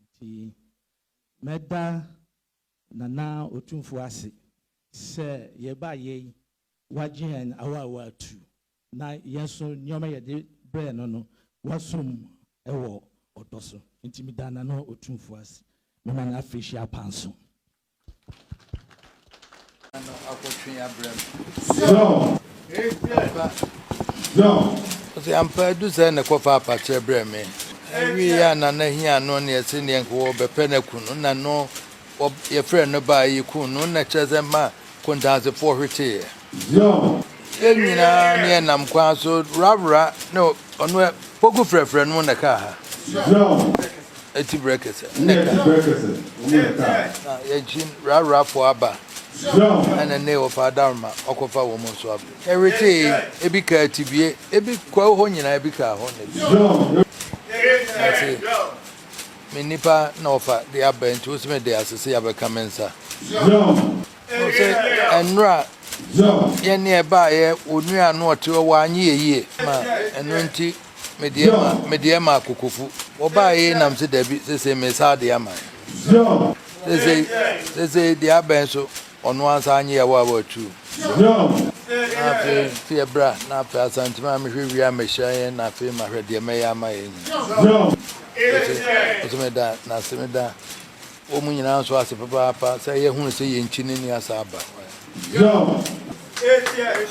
Enti mɛda Nana Otumfoɔ ase sɛ yɛbaa yɛ yi, wagye yɛn awaawa atu, na yɛn nso nneɛma a yɛde brɛɛ no no, wasom wɔ ɔdɔ so. Enti meda Nana Otumfoɔ ase. Mema no afirihyia apanso. Ɔse ampa adu sɛ na kɔfa apakyɛ brɛ me ɛwie a na na hia no ne ɛse neɛ nka wɔbɛpɛ no aku no na no yɛfrɛ no baa yɛku no na kyerɛ sɛ ma kontansefoɔ hweteeɛ Zion. Yɛn nyinaa ne yɛn nam kwan so wrawra ne ɔno ɛ poku frɛfrɛ no na kaa ha. Zion. Eti brɛ kɛsɛ ne kaa. Eti brɛ kɛsɛ ne kaa. Na yɛn kyi wrawra fo aba. Zion. Ɛna ne wɔ fa adaroma ɔkɔ fa wɔn nso aba. Ɛwete yi ebi kaa tibie ebi kwa hɔ nyinaa ebi kaa hɔ ne. Zion. Ɛse me nipa na ɔfa de aba nti wosi me de asese yabɛka me nsa. Zion. Wohu sɛ nnora yɛ ne ɛbaeɛ wo nua no ɔte hɔ w'anye yɛ yie ma ɛno nti medeɛ ma medeɛ ma akokofu wɔbaeɛ yi nam se dabi sesei mesa adeɛ ama yɛ sesei sesei deɛ abɛn so ɔno ansa anye yɛ wɔ a wɔatu na afei nti yɛ bra na afei asantimi a mehwɛ wie a mehyia yɛ na afei mahwɛ deɛ mɛyɛ ama yɛ nyina ɔse meda nase meda Wɔ mo nyinaa nso ase papaapa sɛ yɛahunu sɛ yɛn nkyi no nni asa aba.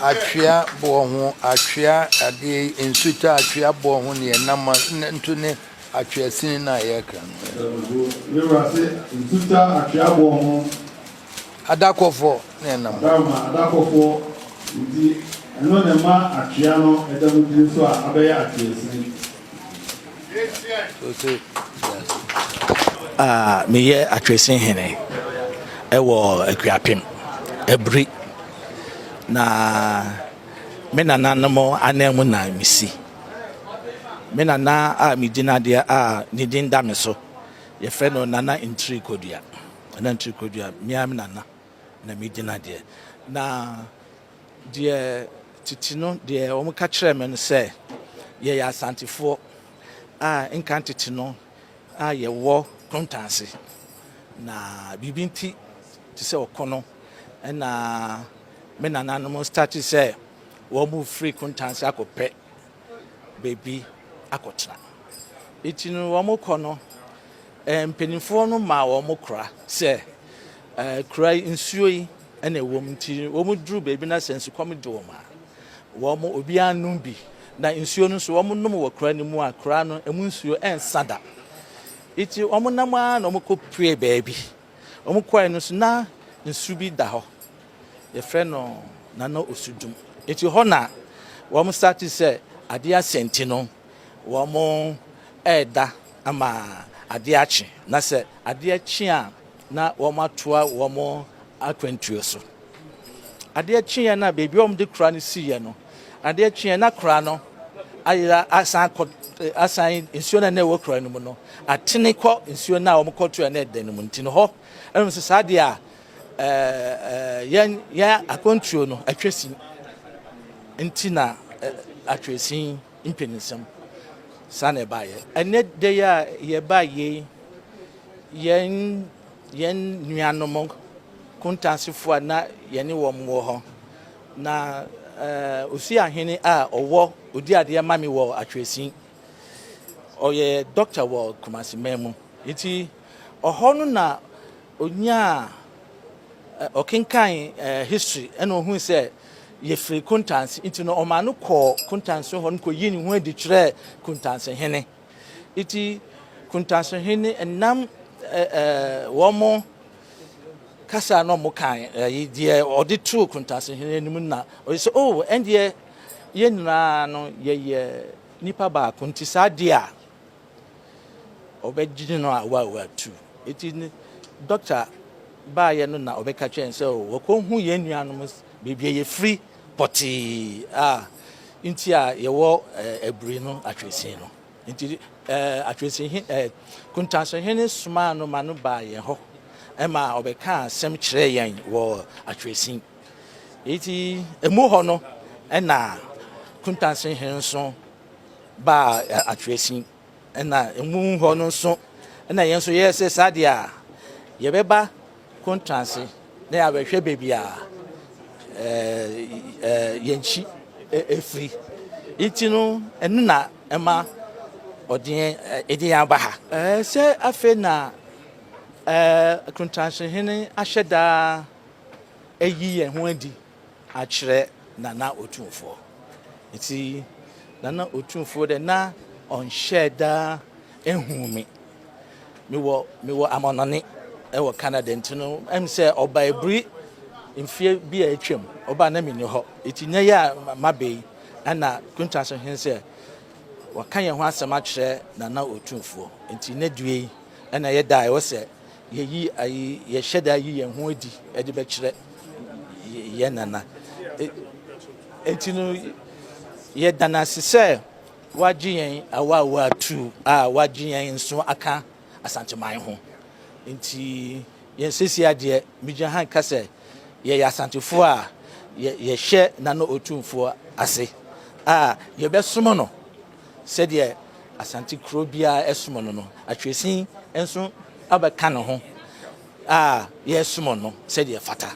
Atwea boɔ ho atwea adeɛ yi nsu ta atwea boɔ ho neɛ nam nto ne atwea sini no a yɛkra no adakɔfoɔ ne ɛnam hɔ. Ah, meyɛ Atwerɛsini Hene wɔ Akuapem, Aburi. Na me nananom anan mu na mesi. Me nana a medi no adeɛ a ne din da me so, wɔfrɛ no Nana Ntiri Kodua. Nana Ntiri Kodua, me ara me nana na medi no adeɛ. Na. Deɛ tete no deɛ wɔka kyerɛɛ me no sɛ, Yɛyɛ Asantefoɔ a nkan tete no a yɛwɔ Krontanse, na biribi nti te sɛ ɔko no na me nananom startee sɛ wɔrefiri Krontanse akɔpɛ. baabi akɔtena. Enti no, wɔkɔ no, mpanimfoɔ no maa wɔn kora sɛ kura yi nsuo yi na ɛwɔ mu. Nti wɔduru baabi na sɛ nsukɔm de wɔn a, wɔn obiara nom bi. Na nsuo no nso wɔnom wɔ kura no mu a, kura no ɛmu nsuo ɛnsa da. Enti wɔnam ara na wɔkɔpuee baabi. Wɔkɔe no nso na nsu bi da hɔ. yɛfrɛ no Nana Osudum. Nti hɔ na wɔn starte sɛ adeɛ asɛ nti no wɔn ɛɛda ama adeɛ akye na sɛ adeɛ kye a na wɔn atoa wɔn akwantuo so. Adeɛ kyeɛ na baabi wɔn de kora no siiɛ no adeɛ kyeɛ na kora no ayera asan kɔ asan nsuo na na ɛwɔ kora no mu no atene kɔ nsuo na wɔn kɔtoɛ na ɛda no mu nti no hɔ ɛnom sɛ saa adeɛ a Yɛn yɛn akwantuo no atwa sin nti na atwa sin mpeninsɛm saa na ɛbaeɛ. Ɛnɛ da yi a yɛba yei yɛn yɛn nuanom kontansifoɔ a na yɛne wɔn wɔ hɔ na osi ahene a ɔwɔ odi adeɛ ma me wɔ atwa sin ɔyɛ dɔkta wɔ Kumasi man mu nti. Hɔ no na onyaa eh, ɔkenkan eh, history ɛna ohui sɛ yɛfiri Kuntanse nti no ɔmaa no kɔɔ Kuntanse hɔ no kɔyii ne ho adi kyerɛɛ Kuntanse hene nti Kuntanse hene ɛnam eh, eh, wɔn mo kasa na ɔmo kan ɛyi eh, deɛ ɔde too Kuntanse hene anim na ɔyɛ sɛ oh ɛndeɛ yɛn nyinaa no yɛyɛ nipa baako nti saa deɛ a Ɔbɛgye no a wa watu. Eti dɔkta baayɛ no na ɔbɛka kyerɛ yɛn sɛ o wɔkɔhu yɛn nuanom baabi a yɛfiri pɔtee a nti a yɛwɔ abiri no atweresin no. Nti atweresin he eh, Kuntanso hene somaa no ma no baa yɛn hɔ ma ɔbɛkaa asɛm kyerɛɛ yɛn wɔ atweresin. Eti emu hɔ no na Kuntanso hene nso baa atweresin na emu hɔ no nso na yɛn nso yɛyɛ sɛ saa deɛ a yɛbɛba kontranse na yɛabɛhwɛ baabi a yɛn kyi firi nti no ɛno na ɛma ɔde yɛn aba ha sɛ afei na kontranse hene ahyɛ daa ayi yɛn ho adi akyerɛ Nana Otumfoɔ. Ntsi Nana Otumfuo dɛ na ɔnnhyɛɛ da nnhun me. Mewɔ mewɔ amɔnɔne wɔ Canada ntsi no, em sɛ ɔbae bri mfeɛ bi a etwa mu, ɔbae na menni hɔ. Ntsi ndɛ yi a maba yi, nna Kunta so hen sɛ wɔakã hɛnho asɛm akyerɛ Nana Otumfuo. Ntsi ndɛ due yi na yɛ da a ɔwɔ sɛ Yɛyi ayi, yɛhyɛ da yi yɛn ho adi de bɛkyerɛ yɛn nana. E, enti no, yɛda no ase sɛ wagye yɛn awaawa atuu a wagye yɛn nso aka Asanteman ho. Enti yɛn sisi adeɛ, megyina ha nka sɛ yɛyɛ Asantefoɔ a yɛhyɛ Nana Otumfoɔ ase a yɛbɛsom no. Sɛdeɛ Asante kuro biara som no no, Atwesin nso abɛka ne ho a yɛsom no sɛdeɛ ɛfata.